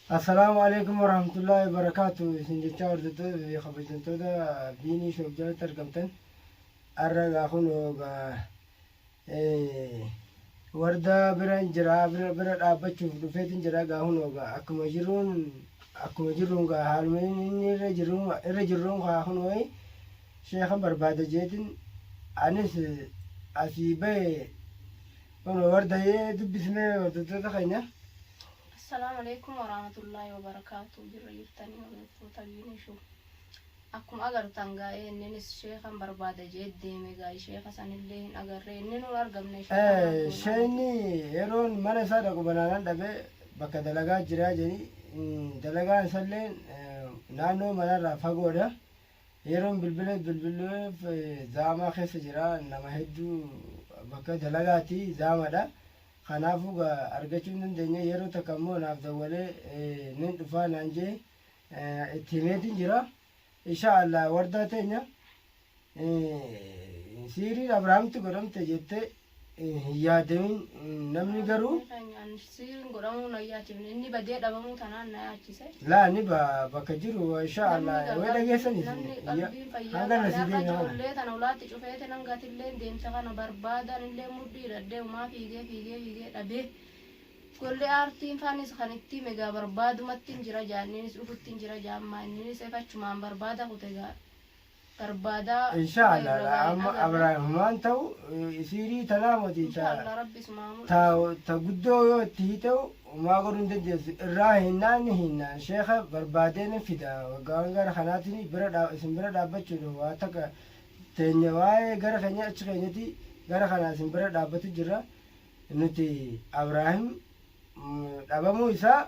Assalaamu Aleykum Warahmatullaahi Wabarakaatuh isin jechaa hordoftoota fi kabajamtoota Biinii Shoof jalatti argamtan har'a egaa kunoo egaa eh, wardaa biran jira bira bira dhaabbachuuf dhufeetin jira egaa kunoo egaa akkuma jiruun akkuma jiruun egaa haaluma inni inni irra jiru irra jirruun kaa kunoo eh, sheekan barbaada jeetin anis eh, asii ba'e kunoo wardayyee dubbisnee hordoftoota keenya. Assalaamu Aleeykum Waraamatullaahi Wabarakaatuh Jirra jirtanii hordoftootaa Biinii Show Akkuma agartan gaa inninis sheekan barbaada je'ee deeme gaa sheeka sanillee hin agarree inninuu hin argamne sheeka maal goonaa miti. Sheekni yeroon mana isaa dhaqu banaanan dhabe bakka dalagaa jiraa jedhi dalagaan isallee naannoo manarraa fagoodha. Yeroon bilbileef bilbileef zaamaa keessa jira nama hedduu bakka dalagaati zaamadha. Kanaafuu gaa argachuu hin dandeenye yeroo takka immoo naaf dawwalee nin dhufaa naan jee itti himeetiin jira. Ishaa Allah wardaa teenya siiriin Abrahaamtti godhamte jettee hin yaadamin namni garuu. Siiriin godhamuu na yaachifne inni badee dhabamuu tanaan na yaachise. Laa ni ba bakka jiru insha Allah Namni wee dhageessan qalbiin, isin namni ya qalbiin fayyaa hanga irraa irra si akka deebi'a kana. ijoollee tana ulaatti cufeeti nan gatilleen deemte kana barbaada anillee mudhii hidhadhee umaa fiigee fiigee fiigee dhabee golli aartiin faanis kan itti hime egaa barbaadumattin jira jaa inninis dhufuttin jira jaa ammaa inninis ef achumaan barbaada kute egaa barbaada Inshaa Rabbi irra Allah waliin amma agarra. Abraahimumaan ta'u eh, siirii tanaa moti Inshaa ta Allah Rabbi isumaa mul'isu. ta ta guddoo yoo itti hiite'u maa godhuu hin dandeessu irraa hinnaan ni hinnaan sheeka barbaadee ni fida waggaan gara kanaatiin bira dhaa- isin bira dhaabbachuudhaaf waa takka teenya waa'ee gara keenya achi keenyati gara kanaa isin bira dhaabbatu jirra nuti Abraahim mm, dhabamuu isaa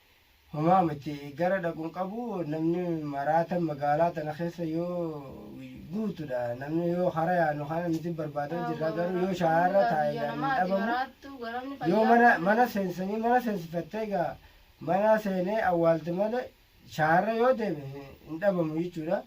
Homaa miti gara dhaqun qabu namni maraatan magaalaa tana keessa yoo guutudha namni yoo hara yaanu kana nuti barbaadan jirra garuu yoo shaarra taa'e yaanu hin dhabamu yoo mana mana seensanii mana seensifattee egaa mana seenee awwaalte malee shaarra yoo deeme hin dhabamu jechuudha.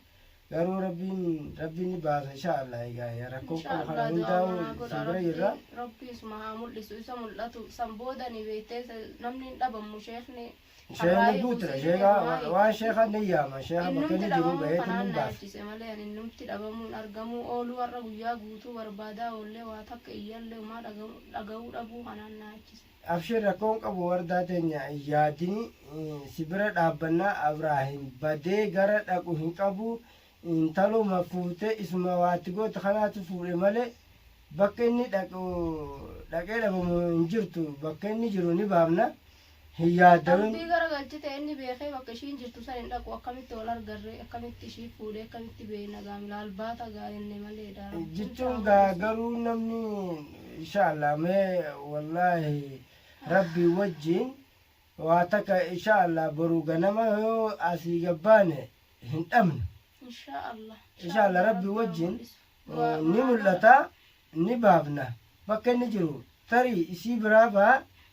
Garuu rabbiin rabbiin ni baasa inshaa Allah egaa yaa rakkoo Inshaa qabu kana Allah du'aa hundaa'u manaa godha isin bira rabbi jirra. rabbi isuma haa mul'isu isa mul'atu san booda ni beektee se- namni hin dhabammu sheekni Sheekni harraa'ee guutuudha buusii sheekaa heerumaa waan eegdadha. sheekaan ni yaama sheekaa bakka Innumti inni jiru dhabamuu baheetiin kanaan ni na baasa. yaachise malee ani innumti dhabamuun argamuu ooluu har'a guyyaa guutuu barbaadaa oollee waa takka iyyallee umaa dhaga'uu dhaga'uu dhabuu kanaan na yaachise. Abshir rakkoo hin qabu wardaa teenya hin yaadini si bira dhaabbanna abrahim badee gara dhaqu hin qabu intaluma fuute isuma waa itti goote kanaatu fuudhe male bakka inni dhaqu dhaqee dhabamu hin jirtu bakka inni jiru ni baamna hin yaadawin Rabbii gara galchite inni beekee bakka ishiin jirtu san hin dhaqu akkamitti wal argarre akkamitti ishii fuudhe akkamitti beeyna gaamila albaata gaa enne maleedha Rabbiin jechuun gaa gaafachiisu. garuu namni inshaa allah mee wallaahi rabbii wajjiin waa takka inshaa allah boru ganama yoo asii gabbaane hin dhabnu inshaa allah inshaa allah rabbii wajjiin eh, ni mul'ata ni baafna bakka inni jiru tarii isii biraa baha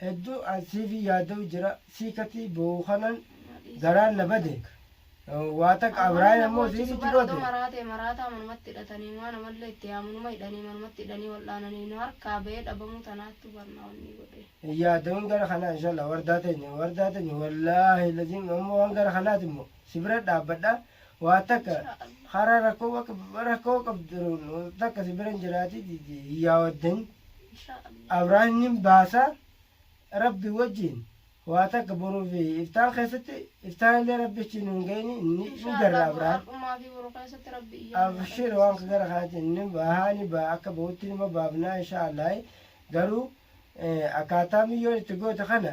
Heddu an sifi yadau jira si kati bohu kanan garan na bade wa taka abrahim ammo si siti gote. Odo maraate maraataa manumatti hidhatanii maa namallee itti yaamu numa hidhanii manumatti hidhanii wal'aananii nu harkaa bahee dhabamuu tanaattu bar na onnii godhee. Hin yaadawin gara kanaa inshallah wardaa tenya wardaa tenya wallahi lazim ammo waan gara kanaati immo si bira dhaabbadha Waa takka hara rakkoo bakka rakkoo qabdu takka si biran jiraati yaawaddan abraan ni baasa rabbi wajjin waa takka boruu fi iftaan keessatti iftaan illee rabbi achi nuun ga'ini ni ni garra abraan Har'umaa fi boru keessatti rabbi iyyaa nu abshir waan dhageessisa. gara kanaatiin ni bahaa ni baha akka bahutti nima baafnaa insha allah garuu eh, akkaataa miyyoon itti goote kana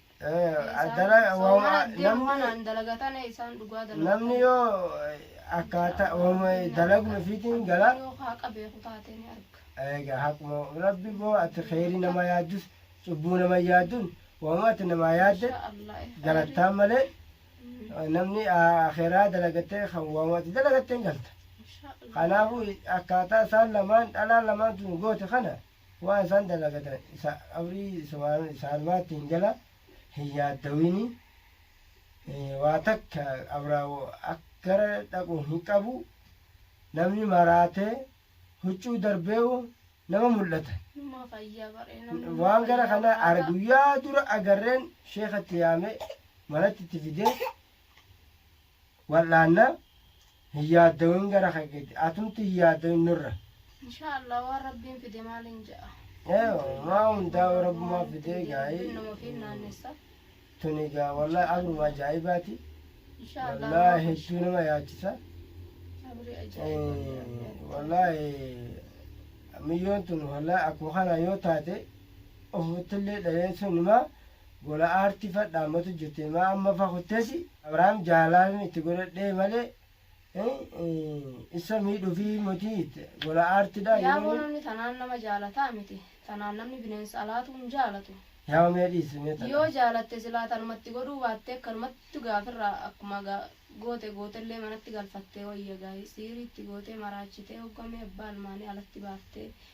namni yoo akkaataa dalaguma ofiitiin gala egaa haquma rabbi boo ati kheyrii nama yaaddus cubbuu nama yaaddun waama ati namaa yaadde galattaan malee namni akhiraa dalagattee kan waama ati dalagatteen galta kanaafuu akkaataa isaan lamaan dhalaa lamaan tun goote kana Waan isaan dalagatan isa qabrii isa waan isaanuma ittiin jala hin yaaddawini. Waa takka qabraa akkara dhaqu hin qabu. Namni maraatee huccuu darbeewu nama mul'ata. Numa fayya baree namni numa Waan gara fayya kana ar- waaqa. guyyaa dura agarreen sheekatti yaamee manatti itti fidee wal'aanna hin yaaddawin gara kee gadi atumti hin yaaddawin nurra insha allah waan rabbiin fide maaliin ja'a ee maa hundaa rabbumaa fidee gaa'ee Rabbiin nama ofiin naannessa tuni gaa wallahi abruma ajaa'ibaati insha allah wallahi waan hedduu nama yaachisa abrii Eh, ajaa'iba wallahi miyyoon tun wallahi akkuma kana yoo taate ofittillee dhaleessuun himaa Gola aarti fa dhaamatu jirte maa amma fa kuttesi abrahaam jaalaalin itti godhadhee male issa miidhufi moti itti gola aarti dha Yaaboo yerooni. namni tanaan nama jaalataa miti. Tanaan namni bineensa alaatuu hin jaalatu. Yaa mee dhiisi mee tana. Yoo jaalatte silaa tanuma itti godhuu baattee akkanumatti gaafirraa akkuma ga goote gootellee manatti galfattee wayya gaa'ii siirii itti gootee maraachitee hogga mee abbaa ilmaanii alatti baaftee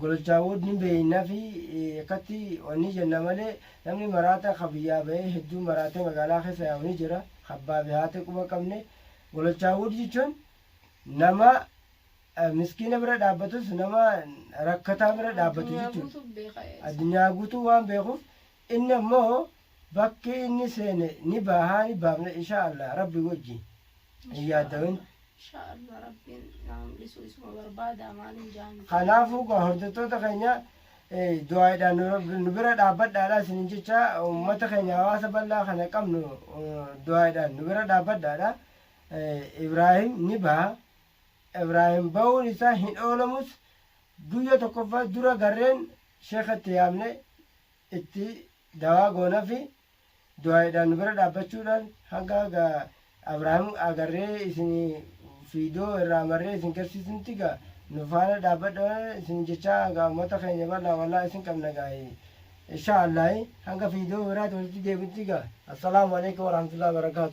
gololchaawwoot ni beeyna fi akkatti wanni jenna malee namni maraata ka biyyaa bahee hedduu maraatee magaalaa keessa yaa'u ni jira ka abbaa fi haati quba hin qabne gololchaawwoot jechuun nama miskiina bira dhaabbatus nama rakkataa bira dhaabbatu jechuudha addunyaa guutuu waan beekuuf Inni ammoo bakki inni seene ni baahaa ni baafna inshaa Allah rabbi wajji hin yaaddawin. Inshaa Allah rabbiin nama mul'isu isuma barbaada maaliin jaani. Kanaafuu gaa hordoftoota keenya eh, du'aaidhaan nu- nu bira dhaabbadhaadha isinin jecha uummata keenya hawaasa bal'aa kana qabnu eh, du'aaidhaan nu bira dhaabbadhaadha. Eh, Ibraahim ni baha. Ibraahim bahuun isaa hin oolamus guyya tokkoffaa dura garreen sheekatti yaamne itti dawaa goonafi du'aa'iidhaan nu bira dhaabbachuudhaan hanga ga Abraahim agarree isini fiidoo irraa marree isin garsiisnutti ga nu faana dhaabbadha isinin jechaa ga ummata keenya bal'aa wallaa isin qabna ga Inshaa Allahi hanga fiidoo biraati walitti deebinutti ga Assalaamu Aleykum Warahmatullahi Wabarakaatu.